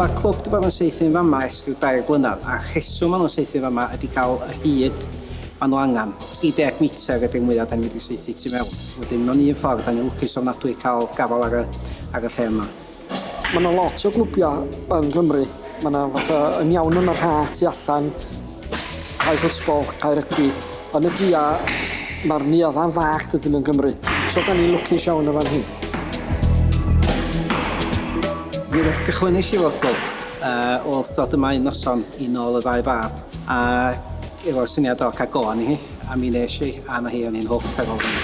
Mae'r clwb wedi bod yn saethu yn fama ers rhyw dair blynedd a'r rheswm maen nhw'n saethu yn fama ydy cael y hyd maen nhw angen. 30 metr ydy'r mwyaf da ni wedi saethu tu mewn. Wedyn mewn un ffordd da ni'n lwcus ofnadwy cael gafael ar y, ar y lle yma. Ma' 'na lot o glwbia yng Nghymru ma' 'na fatha yn iawn yn yr ha' tu allan cae ffotsbol cae rygbi yn y gia ma'r neuaddau'n fach dydyn yn Gymru so 'dan ni'n lwcus iawn yn fan hyn. Fe gychwynais i efo'r clwb yy wrth ddod yma un noson i nôl y ddau fab a efo syniad o ca'l go arni hi a mi nesh i a 'na hi o'n i'n hwc ar ôl hynny.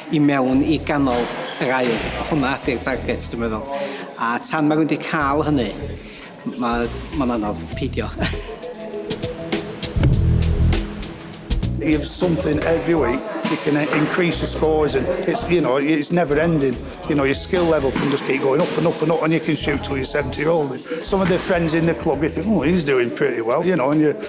i mewn i ganol yr aer. Hwnna ydy'r target dwi'n meddwl. A tan mae rhywun wedi cael hynny, mae, mae'n anodd peidio. You have something every week you can increase your scores and it's you know it's never ending you know your skill level can just keep going up and up and up and you can shoot till you're 70 year old some of their friends in the club you think oh he's doing pretty well you know and you